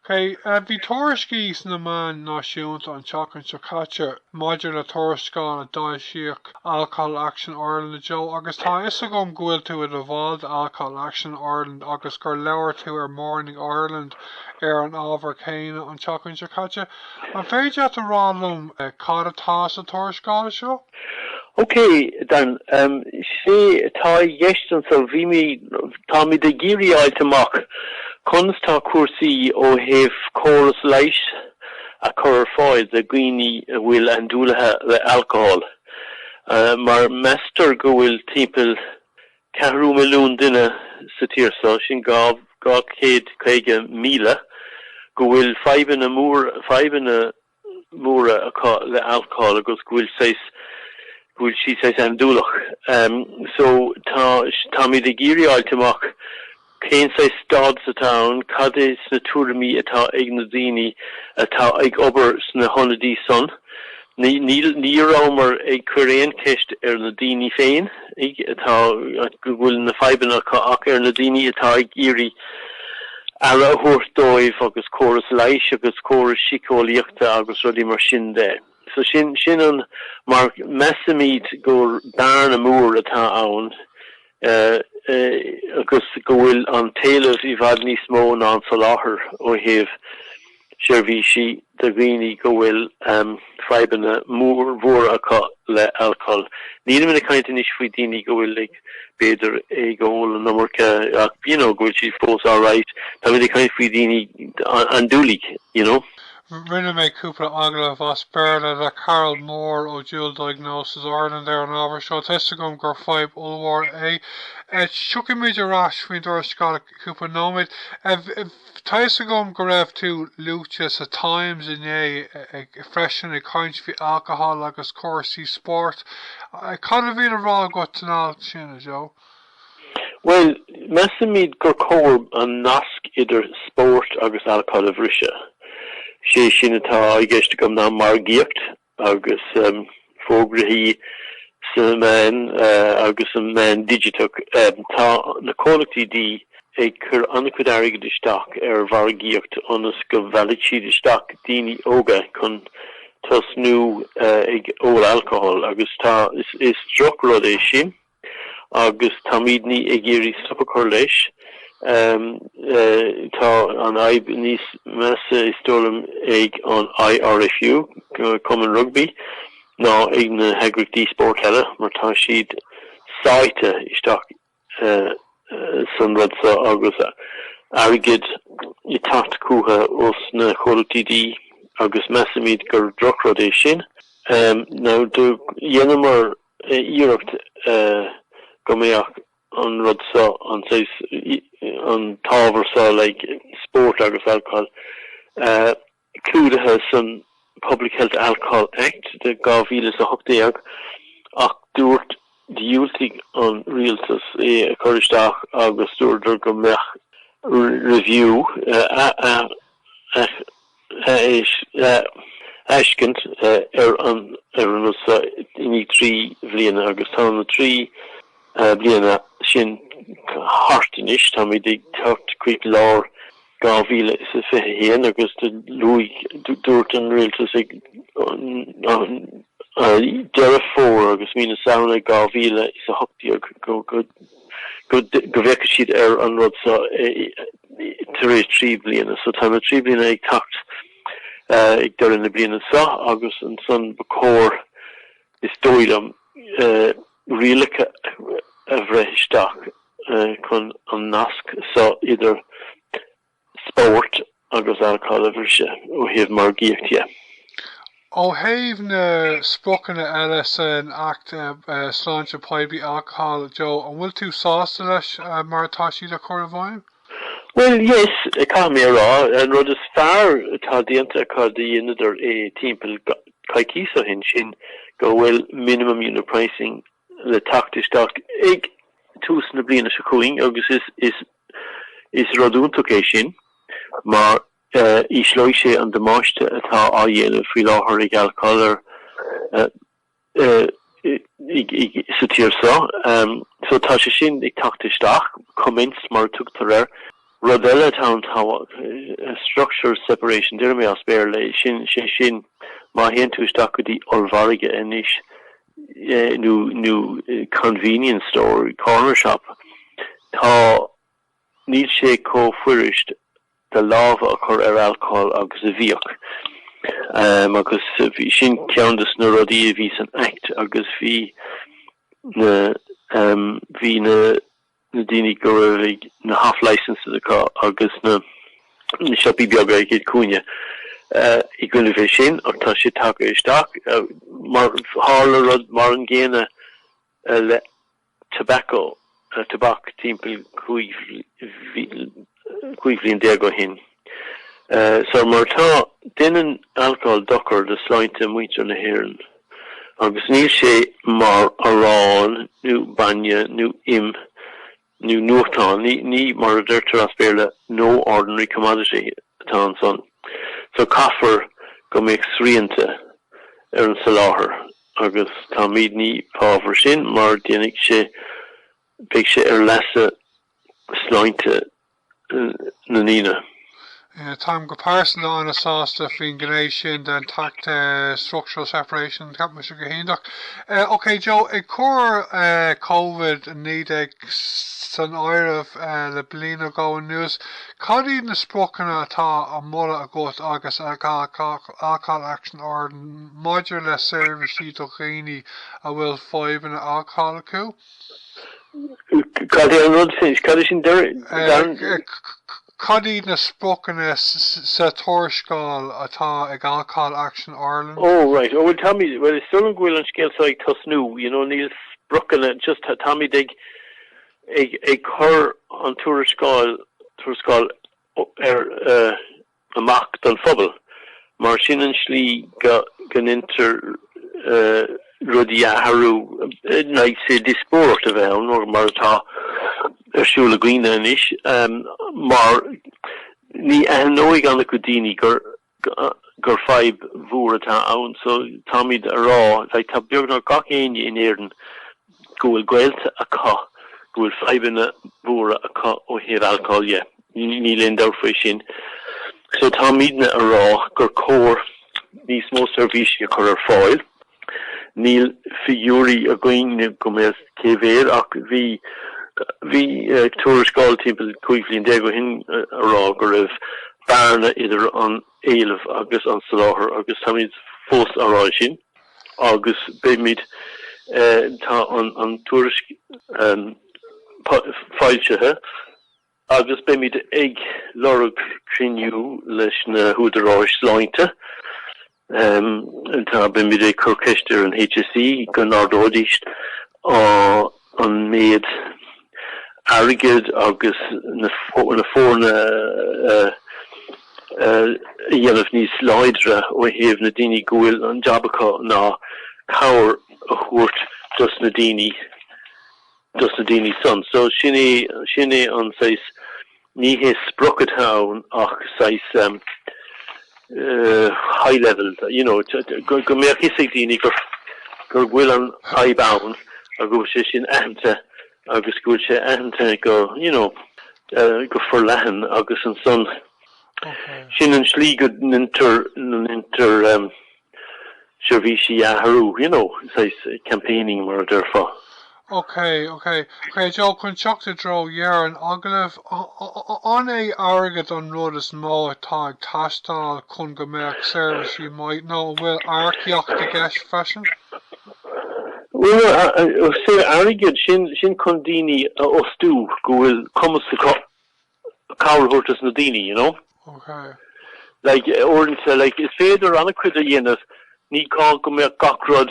Bhí tuairiscí sna meáin náisiúnta an tseachtain seo caite maidir le tuarascáil a foilsíodh Alcohol Action Ireland, a Joe, agus tá a fhios agam go bhfuil tú i do bhall de Alcohol Action Ireland agus gur labhair tú ar Morning Ireland ar an ábhar céanna an tseachtain seo caite. An féidir leat a rá liom cad atá sa tuarascáil seo? Okay, Dan, sé atá i gceist anso, bhí mé, táimid ag iarraidh a fháilt amach conas tá cúrsaí ó thaobh córas leighis a chur ar fáil do dhaoine a bhfuil andúlaithe le alcohol mar meastar go bhfuil timpeall ceathrú milliún duine sa tír so, sin dhá chéad caoga míle, go bhfuil fadhbanna mór, fadhbanna. móra acu le alcól agus go bhfuil saghas, go bhfuil siad saghas andúileach. So tá, táimid ag iarraidh fháilt amach cén saghas stádas atá ann, cad é sna tuairimí atá ag na daoine atá ag obair sna hionadaí san. Ní rabhamar ag cur aon cheist ar na daoine féin. atá go bhfuil na fadhbanna acu ach ar na daoine atá ag iarraidh aire a thabhairt dóibh agus córas leighis agus córas síceolaíochta agus rudaí mar sin de. So sin, sin an, mar measaimid gur bearna mór atá ann agus go bhfuil an t-éileamh i bhfad níos mó ná an soláthar ó thaobh. seirbhísí do dhaoine go bhfuil fadhbanna móra acu le alcól. Nílim ag caint anois faoi daoine go bhfuil ag, b'fhéidir, ag ól an iomarca ach you know go bhfuil siad fós alright. Táimid ag caint faoi dhaoine andúlaigh, you know. Rinne mé cúpla agallamh as Béarla le Carol Moore ó Dual Diagnosis Ireland ar an ábhar seo. Tá 'fhios agam gur fadhb ollmhór é. Tiocfaidh muid ar ais faoin dtuarascáil i cúpla nóiméad. Tá a fhios agam go raibh tú luaite sa Times inné freisin ag caint faoi alcohol agus cúrsaí spóirt. Cad a bhí le rá agat san alt sin, a Joe? Bhuel, measaimid gur cóir an nasc idir spórt agus alcohol a bhriseadh. Sé sin atá i gceist agam ná margaíocht agus fógraí sa meán agus sa meán digiteach. Tá na comhlachtaí dí ag cur an-chuid airgid isteach ar mhargaíocht ionas go meallfaidh siad isteach daoine óga chun tosnú ag ól alcohol agus tá is drochrud é sin. agus táimidne ag iarraidh stop a chur leis. Tá an fhadhb níos measa, is dóigh liom, ag an IRFU, Cumann Rugbaí, ná ag na heagraíochtaí spóirt eile mar tá siad sáite isteach san rud seo agus airgead ag teacht chucu ó na comhlachtaí dí agus measaimid gur drochrud é sin. Dhéanamar iarracht go mbeadh an rud seo, an saghas, an t-ábhar seo, like sport agus alcohol, clúdaithe san Public Health Alcohol Act de 2018 ach dúirt, dhiúltaigh an Rialtas é a chur isteach agus dúradar go mbeadh review, athbhreithniú, féachaint ar an rud so i ndiaidh trí bliana agus tá na trí bliana sin thart anois, táimid ag teacht chuig lár 2021 agus do luaigh, dúirt an Rialtas ag deireadh Fómhair agus mí na Samhna 2018 go go bhféachfadh siad ar an rud seo tar éis trí bliana. So tá na trí bliana ag teacht ag deireadh na bliana seo agus ansan ba chóir, is dóigh liom, rialacha a bhreith isteach chun an nasc seo idir spóirt agus alcohol a bhriseadh ó thaobh margaíocht dhe. Ó thaobh na spriocanna eile san Acht Sláinte Poiblí, Alcohol, Joe, an bhfuil tú sásta leis mar atá siad a chur i bhfeidhm? Bhuel, yes, caithfidh mé a rá. An rud is fearr atá déanta acu do dheineadar é timpeall coicíos ó shin, sin go bhfuil minimum unit pricing, le teacht isteach ag tús na bliana seo chugainn agus is rud iontach é sin mar ísleoidh sé an damáiste atá á dhéanamh faoi láthair ag alcól sa tír seo. So tá sé sin ag teacht isteach, commenced mar a tugtar air. Rud eile atá ann tá, structural separation, déarfaidh mé as Béarla é, sin, sé sin má théann tú isteach go dtí ollmhargadh anois, nó nó convenience store, corner shop, tá níl sé chomh fuirist do lámha a chur ar alcól agus a bhíodh. Um, agus b'in sin ceann dos na rudaí a bhí san act agus bhí na um, bhí na na daoine go raibh na half licences acu agus na siopaí beaga ag an cúinne i gcoinne é sin ach tá sé tagtha isteach mar tharla rud mar an gcéanna le tobacco tobac timpeall cúig cúig bhliain déag ó shin. So mar atá, déanann alcól dochar do shláinte muintir na hÉireann agus níl sé mar arán nó bainne nó im nó nuachtán, nó mar a deirtear as Béarla no ordinary commodity atá ansan. So caithfear go mbeadh srianta ar an soláthar agus táimid i bhfábhar sin mar déanfaidh sé, beidh sé ar leasa sláinte na ndaoine. Táim go pearsanta an-sásta faoin ghné sin den tAcht Structural Separation, ceapaimse go hiontach. OK Joe, ag cur COVID-19 san áireamh le bliain nó dhó anuas, cad iad na spriocanna atá á moladh agat agus ag Alcohol Action Ireland maidir le seirbhísí do dhaoine a bhfuil fadhbanna alcóil acu? Cad é an rud sin? Cad é sin Darren? Cad iad na spriocanna sa tuarascáil atá ag Alcohol Action Ireland? Ó right, ó bhuel táimid, bhuel is dóigh liom go bhfuil an scéal seo ag tosnú, you know níl spriocanna, just táimid ag, ag, ag cur an tuarascáil, tuarascáil ar, amach don phobal, mar sin an slí go ndeintear rudaí a athrú, like sé diospóireacht a bheith ann, mar atá ar siúl againne anois, mar ní aithneoidh an-chuid daoine gur fadhb mhór atá ann, so táimid a rá, like tá beagnach gach éinne in Éirinn, go bhfuil gaolta acu go bhfuil fadhbanna mhóra acu ó thaobh alcóil de, níl aon dabht faoi sin, so táimidne a rá gur cóir níos mó seirbhísí a chur ar fáil. Níl figiúirí againn-ne go mbeadh cé mhéad ach bhí bhí tuarascáil timpeall cúig bhliain déag ó shin a rá go raibh bearna idir an éileamh agus an soláthar agus táimid fós a' rá sin. agus beimid tá an tuairisc foilsithe agus beimid ag lorg cruinniú leis na húdaráis sláinte tá beimid ag cur ceist ar an HSE go n-ardóidís á an méid airgid agus na foirne a dhéanamh níos láidre ó thaobh na ndaoine go bhfuil an jab acu ná cabhair a thabhairt dos na daoine dos na daoine san so sin é sin é an saghas Ní hé sprioc atá ann ach saghas high level, you know, go mbeadh fhios ag daoine gur bhfuil an fhadhb ann, go bhfuil sé sin aitheanta agus go bhfuil sé aitheanta go, you know, go forleathan agus ansan sin an tslí go ndeintear seirbhísí a athrú, you know, saghas campaigning mar a déarfá. OK, OK, Joe. Chun teacht i dtreo dheireadh an agallaimh, an é airgead an rud is mó atá ag teastáil chun go mbeadh seirbhísí maith nó an bhfuil earcaíocht i gceist freisin? Bhuel, is é airgead, sin chun daoine a fhostú go bhfuil cumas acu. cabhair a thabhairt dos na daoine, you know. Ok. Like, uaireanta, like, is féidir an-chuid a dhéanamh, ní gá go mbeadh gach rud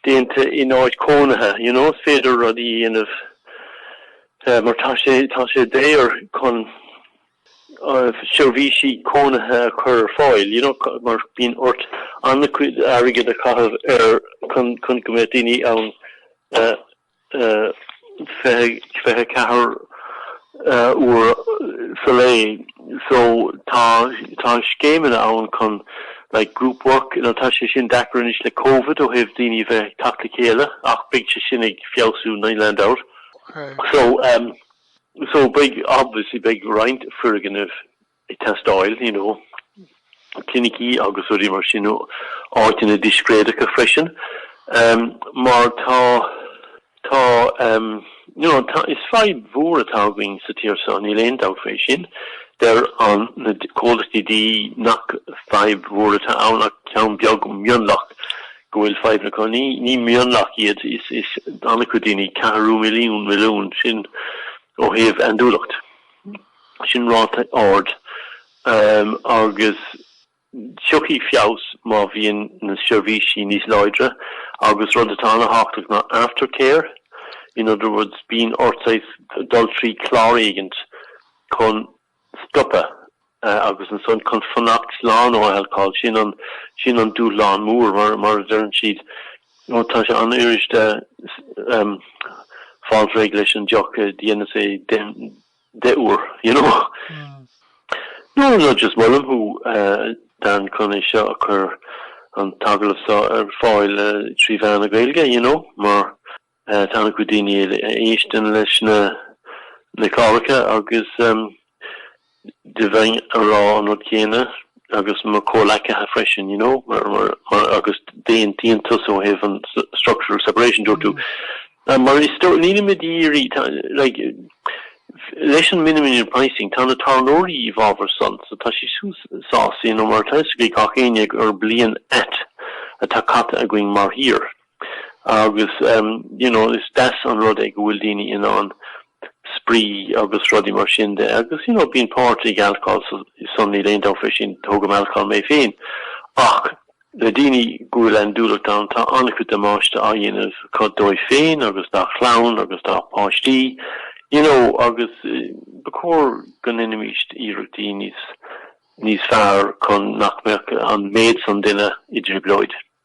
déanta in áit cónaithe, you know, is féidir rudaí a dhéanamh mar tá sé, tá sé daor chun seirbhísí cónaithe a chur ar fáil, you know, mar bíonn ort an-chuid airgid a chaitheamh air chun go mbeadh daoine ann 24 uair sa lae. So tá tá scéimeanna ann chun like group work, nó tá sé sin deacair anois le Covid ó thaobh daoine bheith ag teacht le chéile ach beidh sé sin ag feabhsú níl aon dabht. So so beidh obviously beidh roinnt foirgnimh ag teastáil, you know, clinicí agus rudaí mar sin, áiteanna discréideacha freisin, em, mar tá, tá, em, you know, tá, is fadhb mhór atá againn sa tír so, níl aon dabht fé sin. Deir an, na comhlachtaí dí nach fadhb mhór atá ann ach ceann beag mionlach go bhfuil fadhbanna acu. Ní, ní mionlach iad, is, is an-chuid daoine, ceathrú milliún, milliún, sin ó thaobh andúileacht. sin ráta ard agus tiocfaidh feabhas má bhíonn na seirbhísí níos láidre agus rud atá an-thábhachtach ná aftercare, in other words bíonn ort dul trí chlár éigin chun stopadh agus ansan chun fanacht slán ó alcól, sin an dúshlán mór mar a deireann siad ó tá sé an-fhuiriste fáil réidh leis an deoch, déanann sé, deich uair, you know. No, no, just molaim thú, Dan, chun é seo a chur, an t-agallamh seo, ar fáil trí mheán na Gaeilge, you know, mar tá an-chuid daoine a éisteann leis na na cláracha agus do bheinn ag rá an rud céanna agus mo chomhleacaithe freisin, you know, mar, mar, mar agus d'aon, d'aontaíos ó thaobh an structural separation, dúirt tú. Mar is dóigh, ní, maidir le, leis an minimum unit pricing, tá na tábhairneoirí i bhfabhar san, so tá siad siúd sásta, you know, mar atá a fhios ag gach éinne gur bliain ait atá caite againn mar thír. Agus, you know, is deas an rud é go bhfuil daoine in ann spraoi agus rudaí mar sin de. Agus, you know, bíonn páirt ag alcól ansan, níl aon dabht fé sin, tógaim alcól mé féin. Ach le daoine go bhfuil andúileacht ann, tá an-chuid damáiste á dhéanamh acu dóibh féin agus dá chlann agus dá páistí, you know, agus ba chóir go ndeinimíst iarrachtaí níos, níos fearr chun nach mbeadh an méid san duine i dtrioblóid.